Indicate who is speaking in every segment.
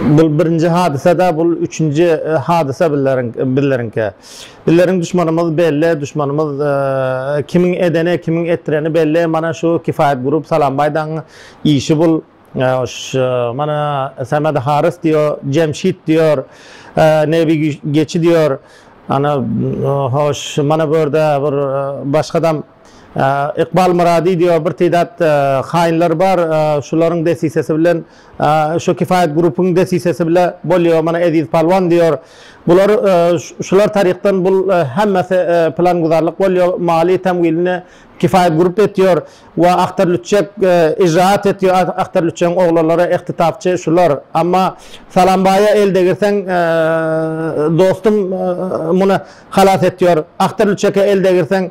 Speaker 1: Bul birinji hadysa da bul üçünji hadysa bizleriňki. Bizleriň duşmanymyz belli duşmanymyz kimiň edeni kimiň etdireni belli mana şu kifayet group salambaýdaň işi bul mana samed harys diýo jemşit diýor nebi geçi diýor ana hoş mana bu ýerde bir başgadam Ykbal Myrady diýýär, bir teýdat haýynlar bar, şularyň desisesi bilen, şu Kifayet Group-yň desisesi bile bolýar, mana Eziz Palwan diýýär. Bular, şular taryhdan bul hemmesi planguzarlyk bolýar, maliýe tämwilini Kifayet Group etýär we Ahtar Lütçek ijraat etýär, Ahtar Lütçegiň oglanlary, Ehtitapçy şular. Amma Salambaýa el degirseň, dostum muny halas etýär, Ahtar Lütçeke el degirseň,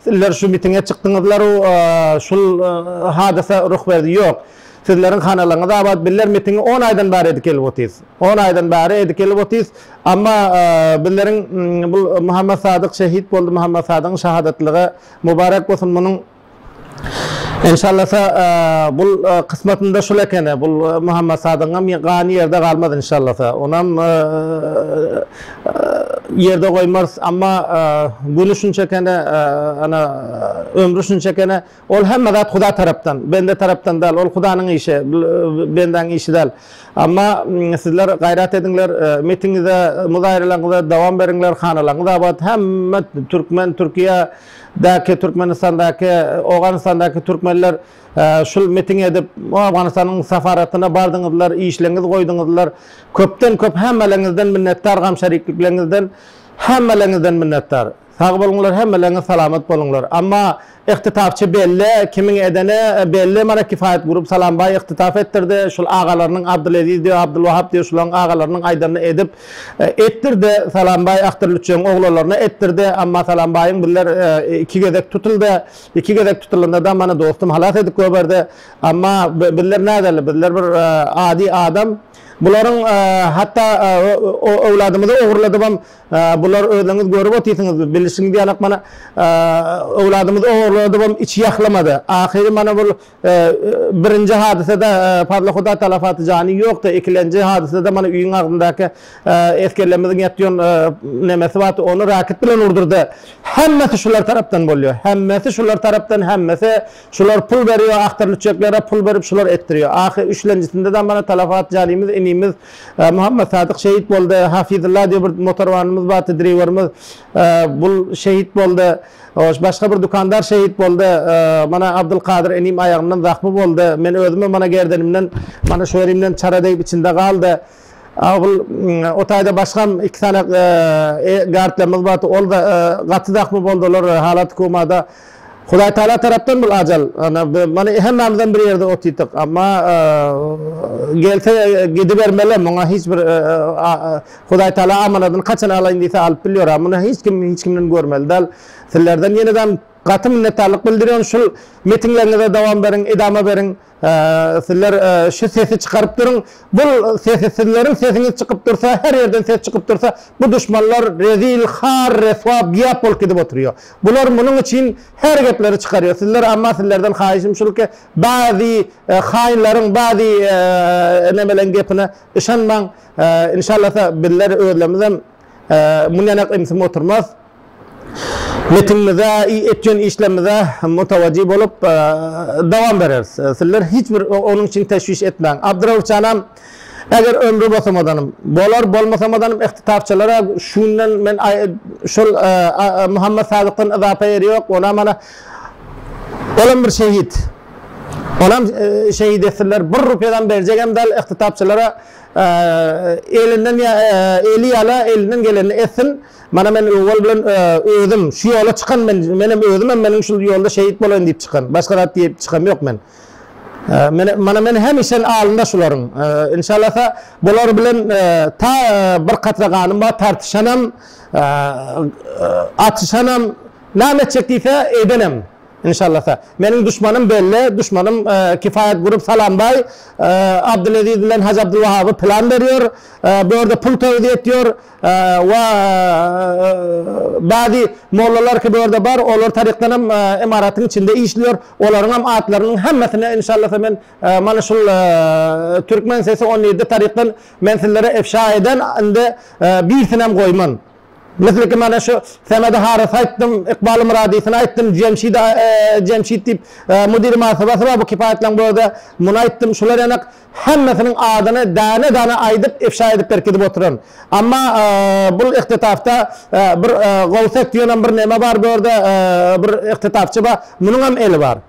Speaker 1: Sizler şu mitinge çykdyňyzlar u şul hadysa ruh berdi ýok sizleriň hanalaryňyz abat bizler mitingi on aýdan bäri edip gelip otyrys on aýdan bäri edip gelip otyrys amma bizleriň bul Muhammet Sadyk şehit boldy Muhammet Sadygyň şahadatlygy mubarek bolsun munuň Enşallasa bul kysmatynda şul ekeni bul Muhammet Sadygyňam gany ýerde galmaz enşallasa onam ýerde goýmarys, amma güni şunçakene, ana, ömri şunçakene, ol hemme zat Huda tarapdan, bende tarapdan däl, ol Hudanyň işi, bendäň işi däl. Amma sizler gaýrat ediňler, mitiňize, muzaýralaňyza dowam beriňler, hanalaňyz abat, hemme türkmen, Türkiýe däki, Türkmenistandaky, Owganystandaky türkmenler Şul mitiň edip Owganystanyň safaratyna bardyňyzlar, işleňiz goýdyňyzlar. Köpden köp hemmeleriňizden minnetdar gam şeriklikleriňizden hemmeleriňizden minnetdar. Sag boluňlar hemmeleriňiz salamat boluňlar. Amma Ihtitabçy belli, kimiň edeni belli mana Kifayet Group Salam Bay ihtitab etdirdi. Şul agalarynyň Abdyleziz diýo, Abdylwahap diýo şularyň agalarynyň aýdanyny edip etdirdi. Salam Bay Ahtar Lütjeň oglalaryna etdirdi. Amma Salam Baýyň birler iki gezek tutuldy. Iki gezek tutulanda da mana dostum halas edip göberdi. Amma bizler näderli, bizler bir e, adi adam. Bularyň e, hatda e, öwladymyzy ogurladybam. Bular özüňiz görüp otyrsyňyz, bilişiňiz ýalak mana öwladymyzy ogurladybam içi ýahlamady. Ahyry mana bu Birinji hadysada Fazly Huda talafaty jany ýokdy, ikilenji hadysada mana öýüň agzyndaky esgerlerimiziň ýatýon nämesi bardy, ony raket bilen urdurdy. Hemmesi şular tarapdan bolýar, hemmesi şular tarapdan, hemmesi şular pul berýär, agtarlüçeklere pul berip şular etdirýär. Ahy üçlenjisinde-de mana talafat janymyz, inimiz Muhammad Sadyk şehit boldy, Hafizylla diýip bir motorwanymyz bardy, driwerimiz, bul şehit boldy. Hoş, başga bir dükandar şehit boldy. Mana Abdylkadyr inim aýagyndan zahmy boldy. Men özümem mana gerdenimden, mana şu ýerimden çara degip içinde galdy. Abyl, o taýda başgam iki sany gartlarymyz bar, ol-da gaty zahmy boldy, olar halaty komada. Hudaý Tagala tarapdan bul ajal. Mana hemmämizem bir ýerde otyrdyk. Amma gelse gidibermeli, muňa hiç bir Hudaý Taala amanadyny haçan alaýyn diýse alyp bilýora. Muny hiç kim hiç kimden görmeli dal. Sizlerden ýenedem gaty minnetdarlyk bildirýon. Şul metinleriňize dowam beriň, edama beriň. Sizler şu sesi çykaryp duruň. Bul sesi sizleriň sesiňiz çykyp dursa, her ýerden ses çykyp dursa, bu duşmanlar rezil, har, reswa, biýap bolup gidip oturýo. Bular munuň üçin her gepleri çykarýo. Sizler amma sizlerden haýyşym şul ki, bazy haýynlaryň, bazy nemeleň gepine Yşanmaň, inşallasa bizler özlemizem mundanak imsim oturmaz. Metinimize, etýän işlerimize mutawajy bolup dowam bereris. Sizler hiç bir onuň üçin teşwiş etmäň. Abdyrauhjanam eger ömri bosamadanm, bolar bolmasamadanm ihtitabçalara şu günden men şol Muhammet Sadykdan yzapa ýeri ýok, onam ana olam bir şehit. Onam şehit etsinler bir rupyadam berjegem dal yhtytapçylara elinden eli yala elinden gelenini etsin mana men owal bilen özüm şu yola çykan men menem özümem meniň şul yolda şehit bolaýyn diyip çykan başga zat diyip çykam yok men mana men hemişen alynda şularyň inşalasa bular bilen ta bir katra ganym bar tartyşanam atyşanam name etjek diyse edenem Inşallasa. Meniň duşmanym belli, duşmanym Kifayat Group Salambaý, Abdulaziz bilen Hajy Abdulwahaby plan berýär, bu ýerde pul towuz etýär we bady mollalar ki bu ýerde bar, olar tarykdan hem imaratyň içinde işleýär, olaryň hem atlarynyň hemmesini inşallasa men mana şul Türkmen sesi on ýedi tarykdan men sizlere efşa eden, indi birisini hem goýman. Bisliki mana şu Semedi Harys aýtdym, Ykbaly Myradysyny aýtdym, Jemşidi Jemşit diýip Müdiri Martabasy bar bu kipaýatlaň bu özä muny aýtdym şular ýanak hemmesiniň adyny däne däne aýdyp ifşa edip berkidip oturan amma bul ihtetapda bir Gowsek diýenem bir neme bar bu ýerde bir ihtetapçy bar munuňam eli bar.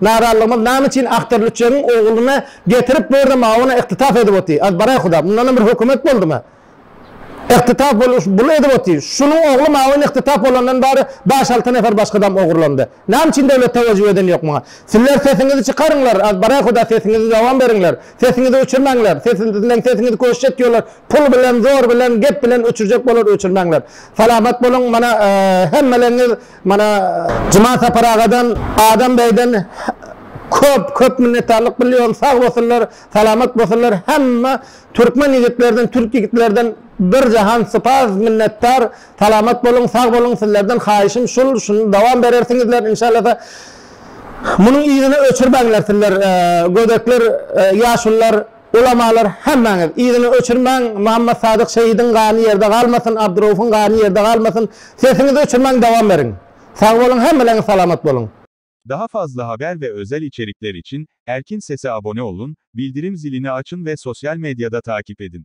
Speaker 1: Narazylygymyz name üçin aktor lüçegiň ogluny getirip börde mauna yktytap edip oty az baray huda mundanam bir hökümet boldymy yktytap boluş bul edip oty şunuň ogly maun yktytap bolandan bary baş alty nefer başgadam ogurlandy name üçin döwlet tawajjuh eden yok muňa sizler sesiňizi çykaryňlar az baray huda sesiňizi dowam beriňler sesiňizi öçürmäňler sesiňizden sesiňizi köşje etýorlar pul bilen zor bilen gep bilen öçürjek bolar öçürmäňler salamat boluň mana hemmeleriňiz Mana Juman Sapar agadan, Adam beýden köp köp minnetdarlyk bilýärin. Sag bolsunlar, salamat bolsunlar. Hemme türkmen ýigitlerden, türk ýigitlerden bir jahan sypaz minnetdar. Salamat boluň, sag boluň. Sizlerden haýyşym şul, şuny dowam berersiňizler inşallasa. Munuň yzyny öçürmäňler sizler gödekler, ýaşulylar. Ulamalar hemmäňiz yzyny öçürmäň Muhammad Sadyk şehidiň gany ýerde galmasyn Abdyraufuň gany ýerde galmasyn sesiňizi öçürmäň dowam beriň sag boluň hemmeläňiz salamat boluň. Daha fazla
Speaker 2: haber ve özel içerikler için Erkin Sese abone ollun, bildirim zilini açyn ve sosyal medyada takip edin.